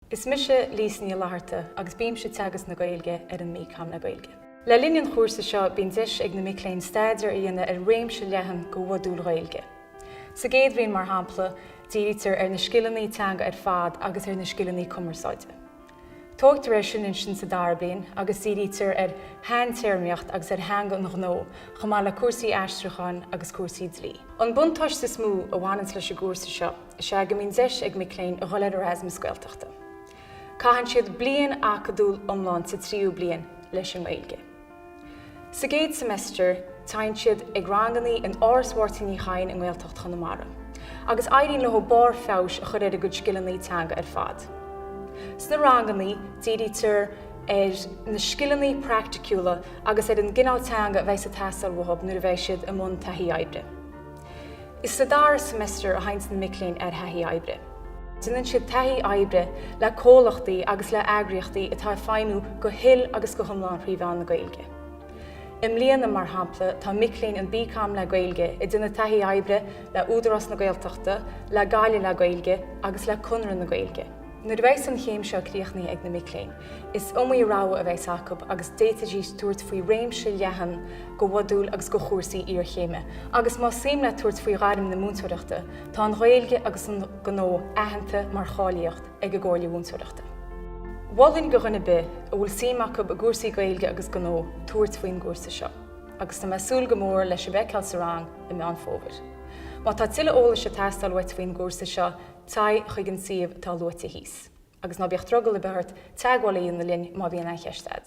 Is mise Lisa Ní Fhlatharta agus bímse ag teagasc na Gaeilge ar an mBComm le Gaeilge. Le linn an chúrsa seo bíonn deis ag na mic léinn staidéar a dhéanamh ar réimse leathan de mhodúil Ghaeilge. Sa gcéad bhliain, mar shampla, dírítear ar na scileanna teanga ar fad agus ar na scileanna cumarsáide. Tógtar air sin ansin sa dara bliain agus dírítear ar shaintéarmaíocht agus ar theanga an ghnó chomh maith le cúrsaí aistriúcháin agus cúrsaí dlí. An buntáiste is mó a bhaineanns leis an gcúrsa seo. Is ea go mbíonn deis ag mic léinn a dhul ar Erasmus Gaeltachta. Caitheann siad bliain acadúil iomlán sa tríú bliain leis an nGaeilge. Sa gcéad semester téann siad ag ranganna in Áras Mháirtín Uí Chadhain i nGaeltacht Chonamara, agus éiríonn leo barr feabhais a chur ar a gcuid scileanna teanga ar fad. Sna ranganna dírítear ar na scileanna praiticiúla agus ar an gcineál teanga a bheas ag teastáil uathu nuair a bheidh siad i mbun taithí oibre. Is sa dara seimeastar a théanns na mic léinn ar thaithí oibre. Déanann siad taithí oibre le comhlachtaí agus le eagraíochtaí atá ag feidhmiú go huile agus go hiomlán thrí mheán na Gaeilge. I mbliana, mar shampla, tá mic léinn an BComm le Gaeilge ag déanamh taithí oibre le Údarás na Gaeltachta, le Gaillimh le Gaeilge agus le Conradh na Gaeilge. Nuair a bheas an chéim seo críochnaithe ag na mic léinn, Is iomaí rogha a bheas acu agus d'fhéadfaidís tabhairt faoi réimse leathan de mhodúil agus de chúrsaí iarchéime. Agus más suim leat tabhairt faoi ghairm na múinteoireachta, tá an Ghaeilge agus an Gnó aitheanta mar cháilíocht ag an gComhairle Mhúinteoireachta. Mholfainn do dhuine ar bith a bhfuil suim acu i gcúrsaí Gaeilge agus Gnó tabhairt faoin gcúrsa seo, agus tá mé ag súil go mór le sibh a fheiceáil sa rang i Meán Fómhair. Má tá tuilleadh eolais ag teastáil uait faoin gcúrsa seo, téigh chuig an suíomh atá luaite thíos. Agus ná bíodh drogall ar bith ort teagmháil a dhéanamh linn má bhíonn aon cheist agat.